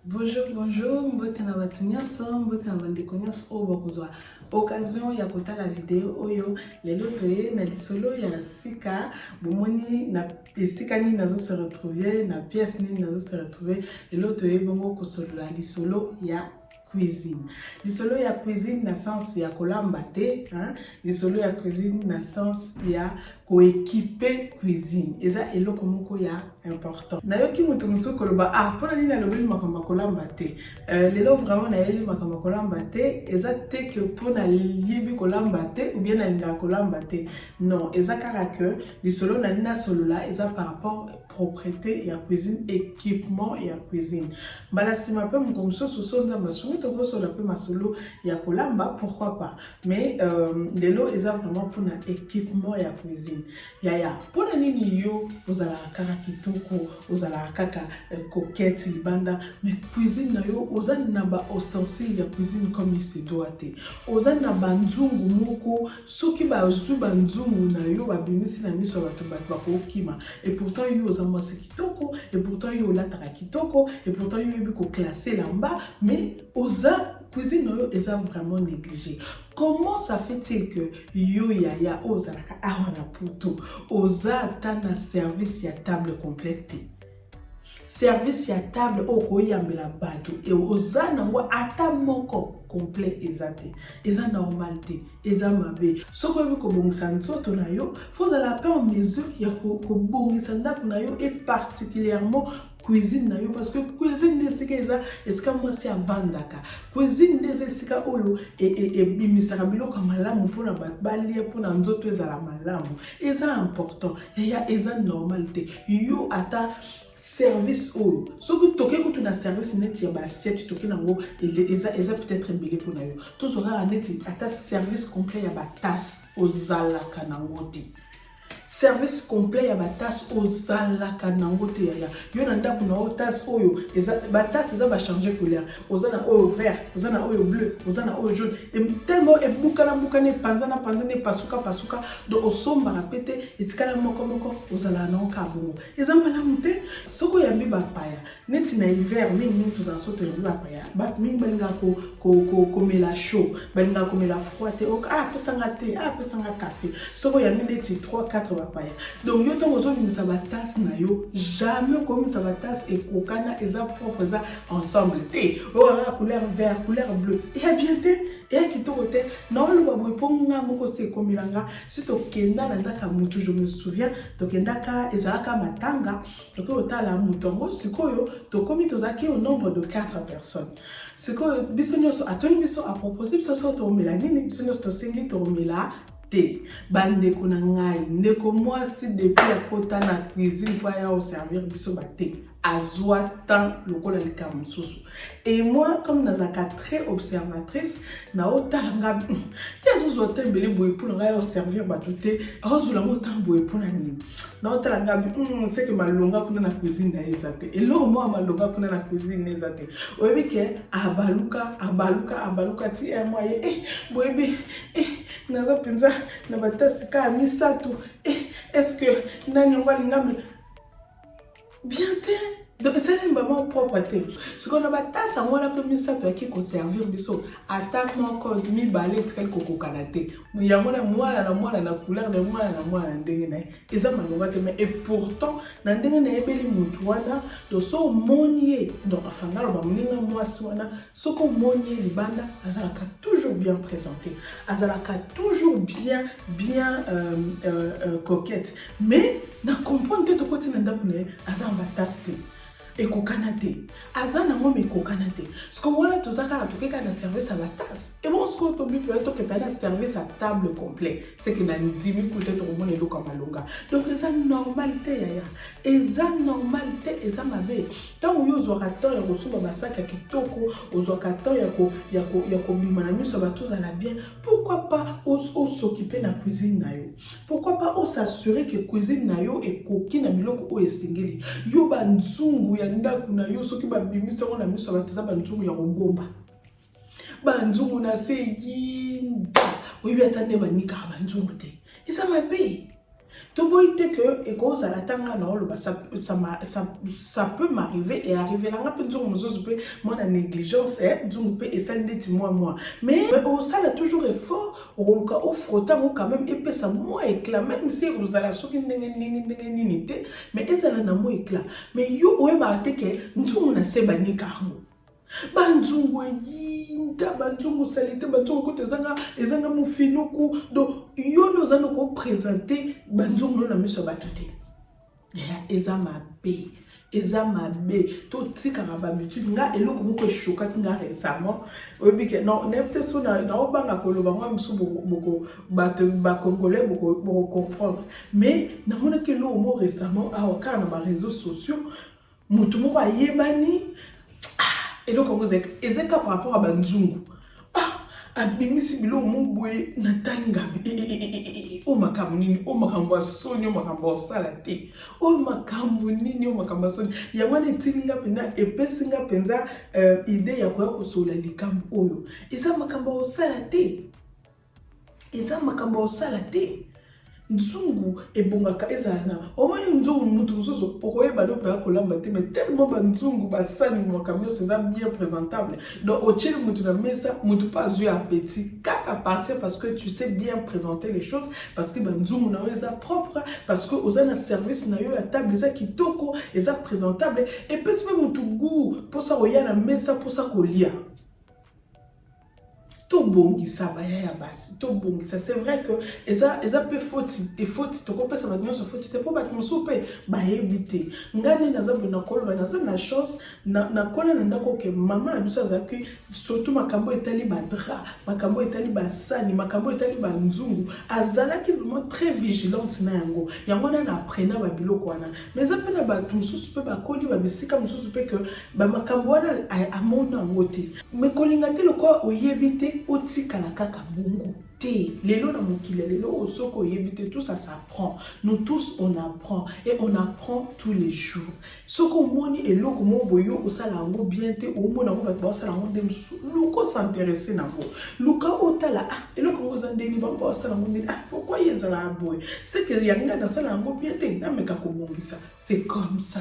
Bonjour, bonjour, mbote na bato nyonso, mbote na bandeko nyonso oyo bakozwa occasion ya kotala video oyo. Lelo toye na lisolo ya sika, bomoni na esika nini nazo se retrouver, na pièce nini nazo se retrouver. Lelo toye bongo kosolola lisolo ya cuisine lisolo ya cuisine na sens ya kolamba te hein? lisolo ya cuisine na sens ya koekipe cuisine eza eloko moko ya important nayoki moto mosusu koloba ah mpo na nini alobeli makambo ya kolamba te euh, lelo vraiment nayeli makambo ya kolamba te eza te ke mpo nayebi kolamba te oubien nalingaka kolamba te non eza kaka ke lisolo nani nasolola eza par rapport proprete ya cuisine équipement ya cuisine mbala nsima mpe moko mosusu so nzambe asungi tokosola mpe masolo ya kolamba pourquoi pas mais euh, lelo eza vraiment mpona équipement ya cuisine yaya mpona nini yo ozalaka kaka kitoko ozalaka kaka euh, coquette libanda mais cuisine na yo oza na ba ostensile ya cuisine comme il se doit te oza na banzungu moko Soki bazwi ba nzungu na yo babimisi na miso ya bato, bato bakokima. Et pourtant yo oza mwasi kitoko, et pourtant yo olataka kitoko, et pourtant yo oyebi ko classer elamba, mais oza cuisine na yo eza vraiment neglige. Comment ça fait-il que yo yaya oyo ozalaka awa na poto, oza ata na service ya table complète te? service ya table oyo koyambela bato e oza nango ata moko complet eza te eza normal te eza mabe soki oyebi kobongisa nzoto na yo fo ozala pe en mesure ya kobongisa ndako na yo e particulièrement cuisine na yo parce que cuisine nde esika eza esika mwasi avandaka cuisine nde eza esika oyo ebimisaka e, e biloko ya malamu mpona bato balia mpona nzoto ezala malamu eza important yaya eza normal te yo ata service oyo soki toke kutu na service neti ya baassiette toke nango eza, eza peut-être ebele mpo na yo tozwa kaka neti ata service complet ya batase ozalaka nango te service complet ya batase ozalaka nango te yaya yo na ndako na yo tase oyo batase eza bachange couleur oza na oyo vert oza na oyo bleu oza na oyo jaune tellement ebukana bukana epanzana panzana epasuka pasuka donc osombaka mpe te etikala moko moko ozala na oka bongo eza malamu te soki oyambi bapaya neti na hiver mingi mingi tozala so toyambi bapaya bato mingi balingaka komela chaud balingaka komela froid te ok ah, apesanga te ah, apesanga café soki oyambi neti 3 4 bapaya donc yo ntango ozobimisa batase na yo jamais okomisa batase ekokana eza propre eza ensemble te oyo oh, ah, couleur vert couleur bleu eya bien te eya kitoko te naoloba boye mpo nga moko se ekomela nga si tokenda na ndaka motu je me souviens tokendaka ezalaka matanga tokoki kotala moto yango sikoyo tokomi tozalaki au nombre de 4 personnes sikoyo biso nyonso atoni biso apropose biso so toomela nini biso nyonso tosengi toomela te bandeko na ngai ndeko mwasi depuis akota na cuisine mpo aya oservir biso bate azwa temps lokola likambo mosusu et moi comme nazalaka très observatrice naotala nga hmm, ye azozwa temps ebele boye mpo na ngai aoservir bato te aozwela yango temps boye mpo na nini naotala nga hmm, seke malonga kuna na cuisine na ye eza te eloko moko malonga kuna na cuisine eza te oyebi ke abaluka abaluka abaluka ti eh, mwa ye eh, boyebi eh, naza mpenza na batasi kaka misato eh, est ce que nani yango alingami bien te donc esalemi vraiment propre te sikoyo na batasa yango wana mpe misato yaki koservir biso ata moko mibale etikali kokokana te yango na mwana na mwana na couleur na mwana na mwana na ndenge na ye eza malonga te mais epourtant na ndenge nayebeli motu wana to so omoni ye donc afanda loba moninga mwasi wana soki omoni ye libanda azalaka toujours bien présente azalaka toujours bien bien euh, euh, euh, coquette Mais na comprendre te tokoti na ndako na ye aza na batasse te ekokana te aza na ngoma ekokana te sikoyo wana toza kaka toke kaka na service ya batase ebongo sikoyo tomipoya tokepa na service ya table complet seke na ndimi kuta tokomona eloko ya malonga donc eza normal te yaya eza normal te eza mabe ntango yo ozwaka temps ya kosomba basaki ya kitoko ozwaka temps ya kobima na miso ya bato ozala bien pourquoi pas osokipe na cuisine na yo Pourquoi pas o s'assurer que cuisine na yo ekoki na biloko oyo esengeli. Yo ba nzungu ya ndako na yo soki ba bimisa ngo na miso ba teza ba nzungu ya kobomba. Ba nzungu na se yinda. Oyebi ata nde banika ba nzungu te. Eza mabe. toboyi te ke ekozala ata ngai na oloba ça peut m'arriver e arrivela ngai mpe nzongo mosusu mpe mwana négligence eh, nzongo mpe esali ndeti mwa mwa mais osala toujours effort okoluka o frotter yango quand même epesa mwa éclat même si ekozala soki ndenge ndenge ndenge nini te mais ezala na mwa éclat mais yo oyebaka te ke nzungu na se banika yango banzungu eyinda banzungu salite banzungu kuta ezanga ezanga mofinuku donc yo nde oza noko présente banzungu no na miso ya bato te eza mabe eza mabe totikaka babitude nga eloko moko eshokaki nga récemment oyebi ke nayebi te so naobanga koloba ngo mosusu boko bato bacongolais bokocomprendre mais namonaki eloko moko récemment awa kaka na bareseau sociaux moto moko ayebani ah, eloko yango ezalaki ezali kaka par rapport ya banzungu ah, abimisi biloko mo boye natali ngabi eh, eh, eh, oyo makambo nini oyo makambo ya soni oyo makambo ya kosala te oyo makambo nini oyo makambo ya soni yango wana etindi nga mpenza epesi nga mpenza euh, ide ya koya kosolola likambo oyo eza makambo ya kosala te eza makambo osala te nzungu ebongaka ezala na omoni nzungu motu mosusu okoyeba no mpenza kolamba te mais tellement banzungu basani makambo nyonso eza bien présentable donc otyeli motu na mesa motu mpe azwi appétit kaka partir parce que tu sais bien présenter les choses parce que banzungu na yo eza propre parce que oza na service na yo ya table eza kitoko eza présentable epesi mpe motu goût mposa koya na mesa mposa kolia tobongisa baya ya basi tobongisa c'est vrai que eza eza mpe foti efoti tokopesa bato nyonso foti te mpo bato mosusu mpe bayebi te ngai nde naza boye nakoloba naza na chance nakola na ndako oke mama na biso azalaki surtout makambo etali badra makambo etali basani makambo etali banzungu azalaki vraiment très vigilante na yango yango wana na apprena babiloko wana mais eza mpe na bato mosusu mpe bakoli babisika mosusu mpe ke bamakambo wana amona yango te Mais kolinga te lokola oyebi te otikala kaka bongo te lelo na mokili ya lelo oyo soki oyebi te tous ça s'apprend nous tous on apprend et on apprend tous les jours soki omoni eloko moko boye okosala yango bien te omona yango bato baosala yango nde mosusu luka osinteresse na yango luka otala ah eloko yango eza ndeni bango baosala yango ndeni ah pourkoi ezalaka boye seke ya ngai nasala yango bien te nameka kobongisa c'est comme ça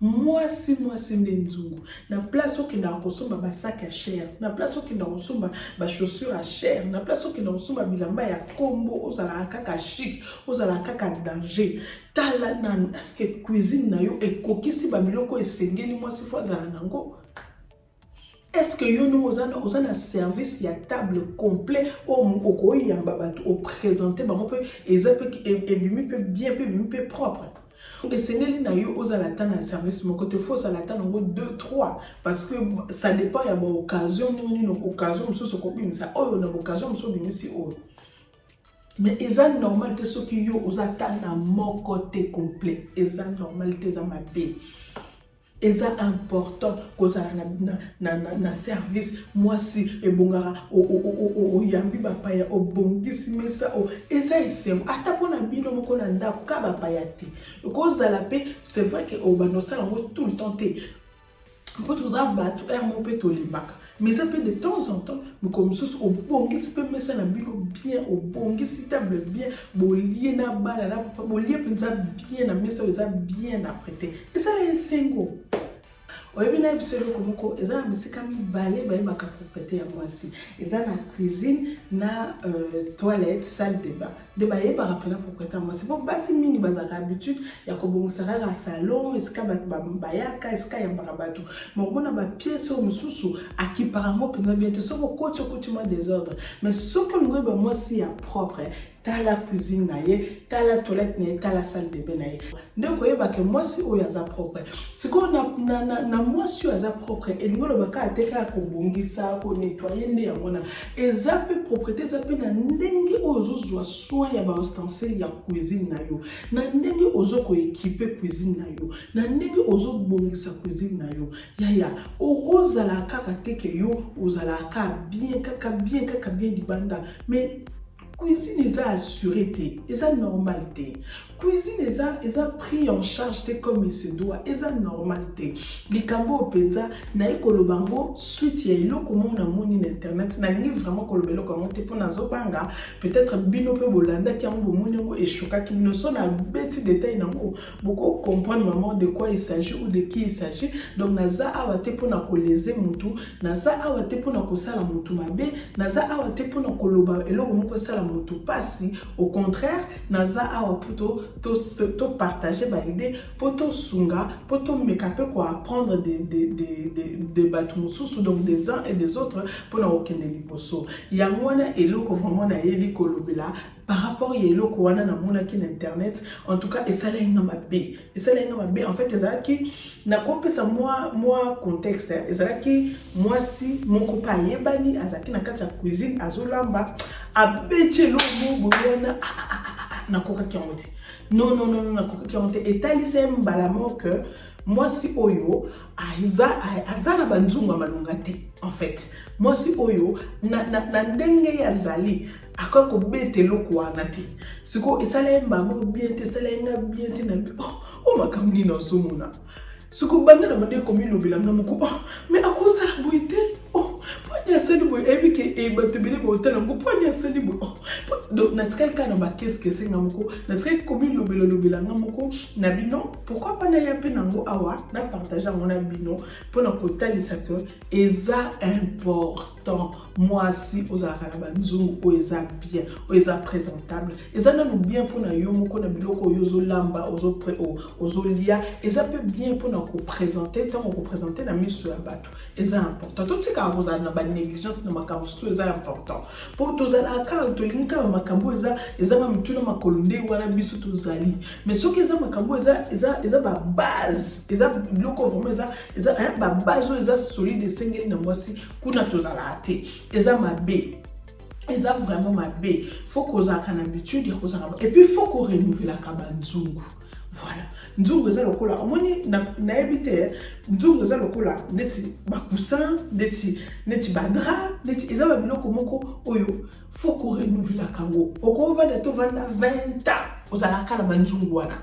Mwasi mwasi nde nzungu. Na place okendaka kosomba ba sac ya cher, na place okendaka kosomba ba chaussures ya cher, na place okendaka kosomba bilamba ya kombo, ozalaka kaka chic, ozalaka kaka danger. Tala nanu est-ce que cuisine na yo ekokisi ba biloko esengeli mwasi faut azala nango? Est-ce que yo ndenge oza na oza na service ya table complet oyo okoyamba bato opresente bango mpe eza mpe ebimi mpe bien mpe ebimi mpe propre esengeli na yo ozala ata na service moko te fo ozala ata nango 2 3 parce que ça dépend ya baoccasion ndenge nini occasion mosusu okobimisa oyo na baoccasion mosusu obimisi oyo mais eza normal te soki yo oza ata na moko te complet eza normal te eza mabe eza important kozala na, na, na, na, na service mwasi ebongaka oyambi bapaya obongisi mesa o, eza esengo ata mpo na bino moko na ndako ka bapaya te okozala mpe c'est vrai ke obanda osala yango tout le temps te mpo toza bato heure moko mpe tolembaka mais eza mpe de temps en temps mokolo mosusu obongisi mpe mesa na bino bien obongisi table bien bolie na bana na papa bolie mpenza bien na mesa oyo eza bien aprete esala esengo oyebi na biso eloko moko eza na bisika mibale bayebaka propriete ya mwasi eza na cuisine na euh, toilette salle de bain nde bayebaka mpena propriétaire mwasi mpo basi mingi bazalaka habitude ya kobongisa kaka salon esika bato bayaka esika yambaka bato ma omona bapiese oyo mosusu akipaka yango mpena bien te soki okoti okoti mwa desordre mais soki olingi oyeba mwasi ya propre tala cuisine na ye tala toilette na ye tala salle de bain na ye nde koyeba ke mwasi oyo aza propre sikoyo na, na, na, na mwasi oyo aza propre elingi oloba kaka te kaka kobongisa konetwaye nde yango wana eza mpe proprete eza mpe na ndenge oyo ozozwa soin ya baustensile ya cuisine na yo na ndenge ozo koekipe cuisine na yo na ndenge ozobongisa cuisine na yo yaya ozala kaka te ke yo ozalaka kaka bien kaka bien kaka bien libanda mais cuisine eza assuré te eza normal te cuisine eza eza pris en charge te comme il se doit eza normal te likambo oyo mpenza naye koloba yango suite ya eloko moko namoni na internet nalingi vraiment koloba eloko yango te mpo nazobanga peut-être bino mpe bolandaki yango bomoni yango eshokaki bino so nabeti detail nango boko comprendre maman de quoi il s'agit ou de qui il s'agit donc naza awa te mpona koleze mutu naza awa te mpona kosala mutu mabe naza awa te mpona koloba eloko moko esala mutu mpasi au contraire naza awa mpo topartage to, to baide mpo tosunga mpo tomeka mpe koapprendre de, de, de, de, de bato mosusu donc des uns et des autres mpona kokende liboso yango wana eloko vraiment nayebi kolobela par rapport ya eloko wana namonaki na internet en tout cas esalaki nga mabe esalaki nga mabe en fait ezalaki nakopesa mwa mwa contexte ezalaki mwasi moko mpe ayebani azalaki na kati ya cuisine azolamba abeti eloko moko boye wana ah, ah, ah, nakokaki yango te non non non nakokaki yango te etalisa ye mbala moke mwasi oyo aza na banzungu ya malonga te en fait mwasi oyo na, na, na ndenge ye azali akoki kobeta eloko wana te sikoyo esala ye mbama bien te esala ye nga bien te na bi o oh, oh, makambo nini azomona sikoyo banda na banda ekomilobela nga moko oh, me akosala boye te pwani asali boye eyebi ke eh, bato ebele baotala yango pwani asali boye donc natikali kaka na bakeskese nga moko natikali komilobela lobela nga moko na bino pourkui pa naya mpe nango awa na partage yango na bino mpo na kotalisa ke eza important temps mwasi ozalaka na banzungu oyo eza bien oyo eza présentable eza nanu bien mpo na yo moko na biloko oyo ozolamba ozolia eza mpe bien mpo na kopresente ntango kopresente na miso ya bato eza important totikaka kozala na banégligence na makambo mosusu eza important mpo tozalaka kaka tolingi kaka makambo oyo eza ezanga mituna makolo nde wana biso tozali mais soki eza makambo eza eza eza babase eza biloko vraimen eza eza eh, babase oyo eza solide esengeli na mwasi kuna tozalaka te eza mabe eza vraiment mabe fo kozalaka na habitude ya kozalaka epuis fo korenouvelaka banzungu voilà nzungu eza lokola omoni nayebi na te nzungu eza lokola neti bacoussin neti neti badra neti eza babiloko moko oyo fo korenouvelaka yango okovanda tovanda 20 ans ozalaka na banzungu wana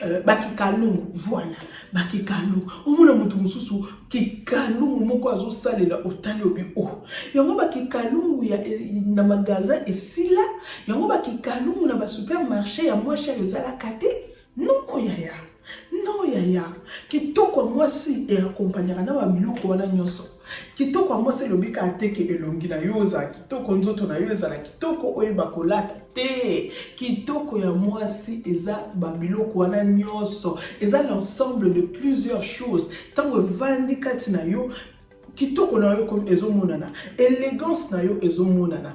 Euh, bakikalungu voilà bakikalungu omona moto mosusu kikalungu moko azosalela otali obi o oh. yango bakikalungu eh, na magasin esila yango bakikalungu na basupermarché ya mwa chere ezalaka te noko yaya no yaya kitoko ya mwasi eakompagnaka na babiloko wana nyonso Kitoko ya mwasi elobi kaka te ke elongi na yo ezala kitoko, nzoto na yo ezala kitoko, oyeba kolata te. Kitoko ya mwasi eza babiloko wana nyonso, eza l'ensemble de plusieurs choses. Ntango evandi kati na yo, kitoko na yo ezomonana, elegance na yo ezomonana.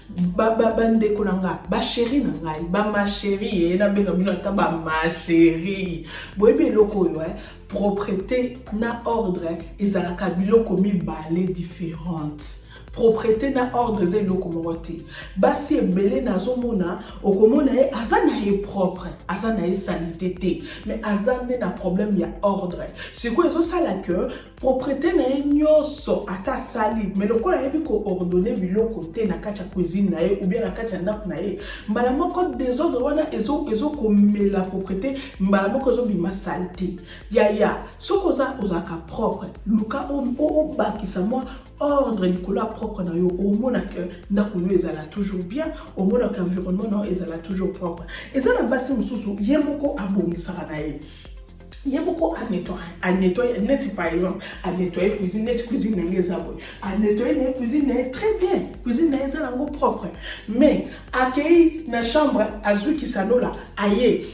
ba ba ba ndeko na nga ba chéri na ngai ba ma chéri ye eh, nabenga bino ata ba ma chéri boyebi eloko oyo eh? propreté na ordre eh, ezalaka biloko mibale différente propreté na ordre eza eloko moko te basi ebele nazomona okomona ye aza na ye propre aza na ye salite te mais aza nde na problème ya ordre sikoyo ezosala que proprete na ye nyonso ata asali me lokola ayebi koordonne biloko te na kati ya cuisine na ye oubien na kati ya ndako na ye mbala moko desordre wana ezokomela ezo proprete mbala moko ezobima sale te yaya soki oza ozalaka propre luka obakisa mwa ordre likolo ya propre na yo omona ke ndako yo ezala toujours bien omona ke environnement na yo ezala toujours propre eza na basi mosusu ye moko abongisaka na ye ye moko anetoye neti par exemple anetoye cuisine neti cuisine na ngai eza boye anetoye na ye cuisine na ye très bien cuisine na ye eza nango propre mais akei na chambre azwi kisanola aye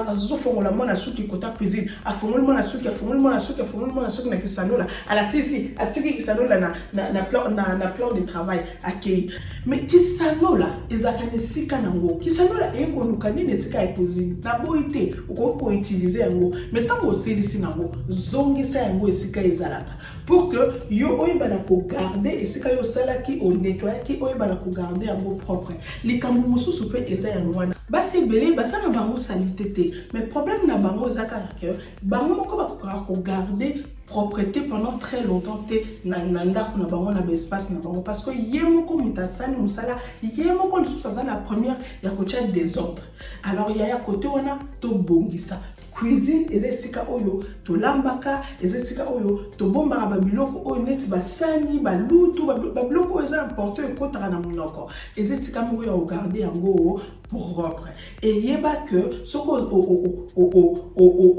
azofongola mwana suki kota cuisine afongoli mwana suki afongoli mwana suki afongoli mwana suki na kisanola alasisi atiki kisanola na plan de travail akei me kisanola ezalaka na esika nango kisanola eye koluka nini esika ya kozini na boyi te okoki koutilize yango me ntango osilisi nango zongisa yango esika ezalaka pour que yo oyeba na kogarde esika yo osalaki onetoyaki oyeba na kogarde yango propre likambo mosusu mpe eza yango wana basi ebele basala bango salite te mais problème na bango eza kaka ke bango moko bakokaka kogarde propreté pendant très longtemps te na ndako na bango na baespace na bango parce que ye moko moto asali mosala ye moko lisusu aza na première ya kotya desordre alors yaya kote wana tobongisa cuisine eza esika oyo tolambaka eza esika oyo tobombaka babiloko oyo neti basani balutu babiloko oyo eza importe oyo ekotaka na monoko eza esika moko ya kogarde yango propre eyeba que soki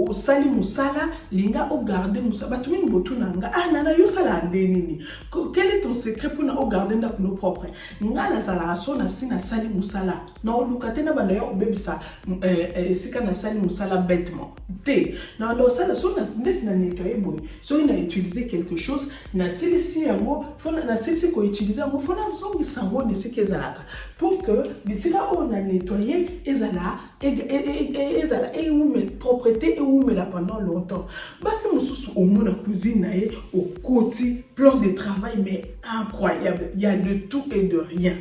osali mosala linga ogarde mosala bato mingi botuna nga ah nana yo osalaka nde nini quel est ton secret mpona ogarde ndako no propre nga nazalaka so nasi nasali mosala na oluka te na banda ya kobebisa eh, eh, esika nasali mosala bêtement te na banda osala so ndeti na nettoye boye soki na utilise quelque chose nasilisi yango nasilisi koutilize yango fo nazongisa yango na esika ezalaka pour que bisika oyo na nettoyer ezala e, e, e, ezala ewumela propreté ewumela pendant longtemps basi mosusu omona cuisine na ye okoti plan de travail mais incroyable ya de tout et de rien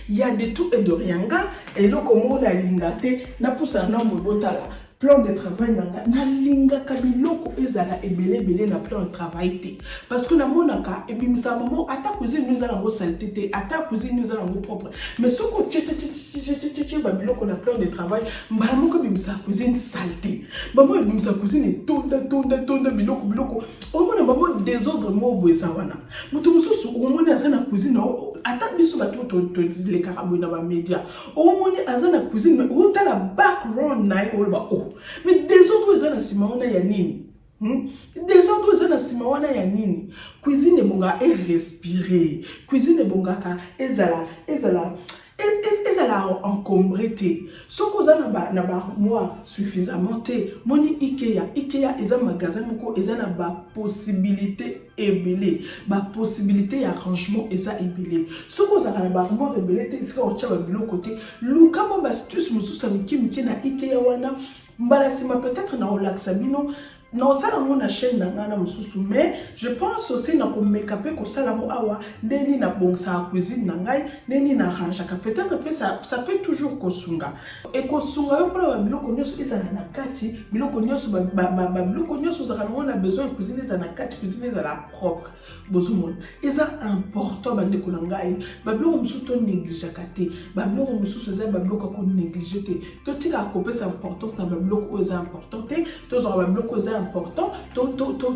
ya de tout et de rien nga eloko moko nalinga te napusana na mobotala plan de travail na nga nalingaka biloko ezala ebele ebele na plan de travail te parce que namonaka ebimisaka bango ata cuisine no eza nango salite te ata cuisine no eza nango propre mais soki otyetyetyetye babiloko na plan de travail mbala moko ebimisaka cuisine salite bango ebimisaka cuisine etonda tonda tonda biloko biloko omona bango desordre moko boye eza wana moto mosusu omoni aza na cuisine ata biso bato tolekaka boye na bamedia omoni aza na cuisine mais otala background na ye oloba o oh. mais desordre oyo eza na nsima wana ya nini hmm? desordre oyo eza na nsima wana ya nini cuisine ebongaka erespire cuisine ebongaka ezala ezala e, e, ezala encombre te soki oza na baarmoire suffisamment te moni ikea ikea eza magasin moko eza na bapossibilité ebele ba possibilité ya arrangement eza ebele soki ozalaka na baarmoire ebele te esika otya babiloko te luka mwa bastuce mosusu ya mike mike na ikea wana mbala nsima peut-être na olakisa bino naosala yango na chaîne na ngai na mosusu mais je pense osi na komeka mpe kosala yango awa nde nini nabongisaka cuisine na ngai nde nini na arrangeaka peut-être mpe ça peut toujours kosunga Ekosunga yo mpona babiloko nyonso ezala na kati, biloko nyonso babiloko nyonso ozalaka nango na besoin ya cuisine ezala na kati, cuisine ezala propre. Bozomona? Eza important bandeko na ngai, babiloko mosusu to negligeaka te, babiloko mosusu eza babiloko ya ko neglige te, totikaka kopesa importance na babiloko oyo eza important te, tozwaka babiloko oyo eza important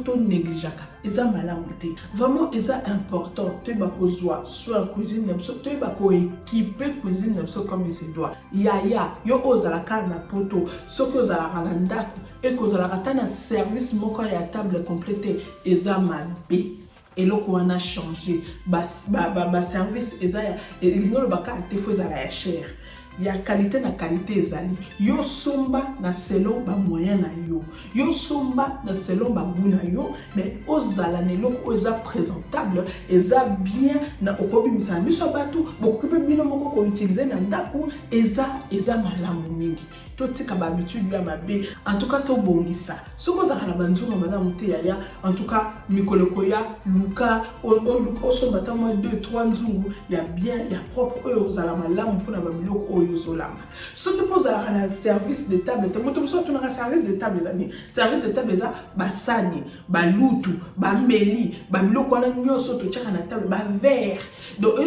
to negligeaka. eza malamu te vraiment eza important toyeba kozwa soin cuisine na biso toyeba koekipe cuisine na biso comme se doit yaya yo oyo ozalaka na poto soki ozalaka na ndako ekozalaka ata na service moko ya table complet te eza mabe eloko wana change baservice ba, ba, ba eza ya elingi olobaka te fo ezala ya chere ya qualite na qualite ezali yo somba na selon ba moyen na yo yo somba na selon ba gout na yo mais ozala na eloko oyo eza présentable eza bien na okobimisa na miso ya bato bokoki mpe bino moko koutilize na ndako eza eza malamu mingi totika bahabitude ya mabe en tout cas tobongisa soki ozalaka na banzunga malamu te yaya en tout cas mikolo ekoya luka osomba ata mwa 2 3 nzungu ya bien ya propre oyo ozala malamu mpona babiloko oyo ozolamba soki mpo ozalaka na service de table te moto mosusu atunaka service de table eza nini service de table eza basani balutu bambeli babiloko wana nyonso totyaka na table bavere donc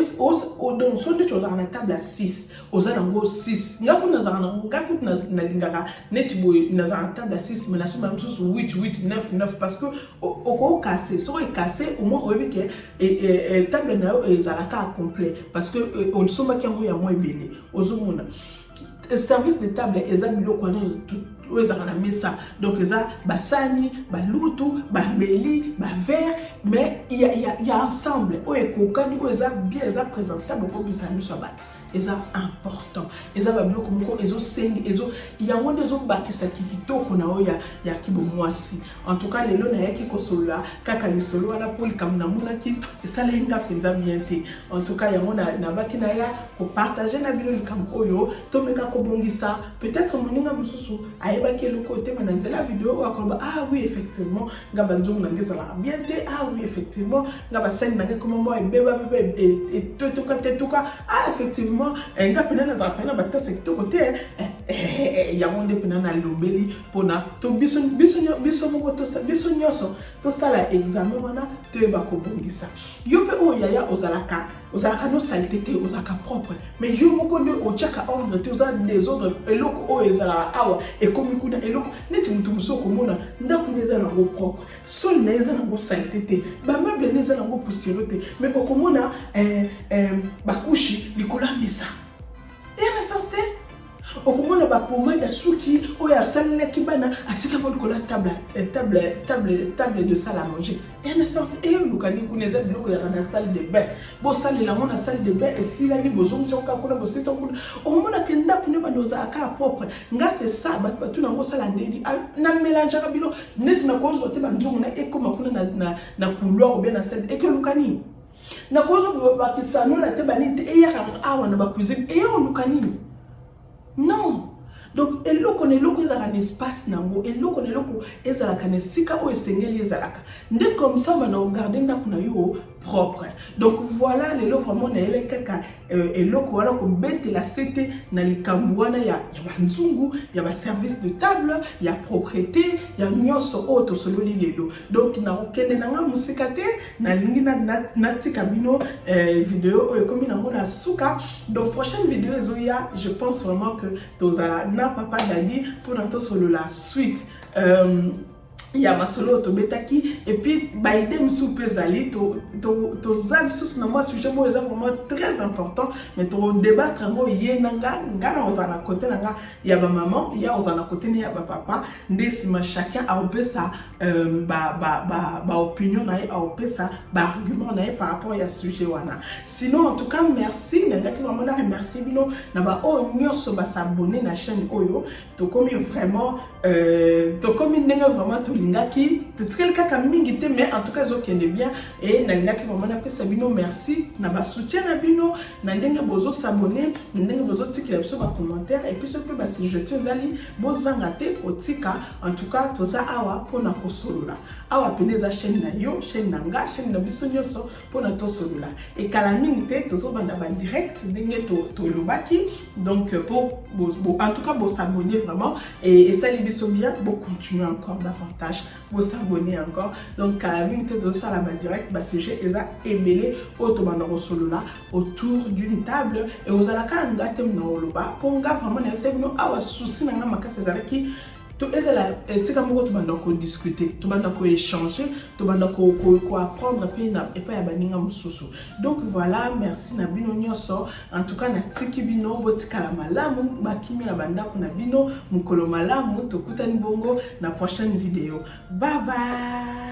so ndeti ozalaka na table ya 6 oza nango 6 nga kutu nazalaka nango nga kutu nalingaka neti boye nazalaka table ya 6 me nasomba mosusu 8 8 9 9 parce que okokase soko ekase omoi oyebi ke e, e, e, table na yo ezalaka complet parce que osombaki yango yango ebele ozomona service de table eza biloko wana oyo ezalaka na mesa donc eza basani balutu bambeli bavere mais ya ensemble oyo ekokani oyo eza bien eza présentable okobisa miso ya bato eza important eza babiloko moko ezosengi ezo yango nde ezobakisa kitoko na oyo ya, ya kibomwasi en tout cas lelo nayaki kosolola kaka lisolo wana mpo likambo namonaki esalaki nga mpenza bien te en tout cas yango nabaki na ya kopartage na bino likambo oyo tomeka kobongisa peut-être moninga mosusu ayebaki eloko te me na nzela video oyo akoloba ah oui effectivement nga banzongo na nge ezalaka bien te ah oui effectivement nga basani na nge koma mwa ebeba beba etotoka tetoka ah effectivement eh, nga mpena nazalaka mpena batasa kitoko te eh, eh, yango nde mpena nalobeli mpona to biso biso biso moko biso nyonso tosala examen wana toyeba kobongisa yo mpe oyo yaya ozalaka ozalaka no salite te ozalaka propre mais yo moko nde otyaka ordre te oza desordre eloko oyo ezalaka awa ekomi kuna eloko neti moto mosusu okomona ndako nde eza nango propre soli na ye eza nango salite te bameuble nde eza nango poustiero te mais okomona eh, eh, bakushi likolo ya mesa okomona ba pomade ya suki oyo asalelaki bana atikako likolo ya table eh, table table table de salle à manger en essence eyolukani kuna eza biloko yaka na salle de bain bosalela yango na salle de bain esilani bozongisa koka kuna bosisa kuna omona ke ndako nde bando ozala kaka propre nga se sa bato batuna yango osala ndedi ah, na melangeaka bilo neti nakozwa te banzongo na ekoma kuna na couloir obia na salle ekolukani nakozo bakisa nola te banini te eyaka yango awa na bacuisine eye oluka nini non donc eloko na eloko ezalaka na espace na yango eloko na eloko ezalaka na esika oyo esengeli ezalaka nde comme ça bana ogarde ndako na yo propre donc voilà lelo vraiment nayebaki kaka euh, eloko wana kobetela sete na likambo wana ya, ya banzungu ya baservice de table ya propreté ya nyonso oyo tosololi lelo donc nakokende na ngai mosika te nalingi natika na, na bino eh, video oyo ekomi nango na suka donc prochaine video ezoya je pense vraiment que tozala na papa dadi mpona tosolola suite euh, ya masolo oyo tobetaki epuis baide mosusu mpe ezali toza lisusu na mwa sujet moko eza vraimen très important mais tokodebatre yango ye na nga nga na kozala na kote na nga ya bamama ya kozala na kote ne ya bapapa nde nsima chacun aopesa euh, baopinion na ye aopesa baargument na ye par rapport ya sujet wana sinon en tout cas merci nalingaki vraiment na remercie bino na baoyo nyonso basabone na chaîne oyo tokomi vraiment euh, tokomi ndenge vraiment tolingaki totikali kaka mingi te mais en tout cas ezokende bien e nalingaki vraiment napesa bino merci na basoutien na bino na ndenge bozosabone na ndenge bozotikela biso bacommentaire epuis soki mpe basuggestion ezali bozanga te kotika en tout cas toza awa mpona kosolola awa mpena eza chaîne na yo chaîne na nga chaîne na biso nyonso mpona tosolola ekala mingi te tozobanda badirect ndenge tolobaki donc euh, po en tout cas bosabonne vraiment et esali biso bien bocontinue encore davantage bosabonne encore donc kala mingi te tozosala badirect basujet eza ebele oyo tobanda kosolola autour d'une table e ozalaka nga te mona koloba mpo nga vraiment nayebisa bino awa souci na nga makasi ezalaki to ezala esika moko tobanda kodiscute tobanda koechange tobanda koapprendre mpe na epai ya baninga mosusu donc voilà merci na bino nyonso en tout cas natiki bino botikala malamu bakimi na bandako na bino mokolo malamu tokutani bongo na prochaine video bye bye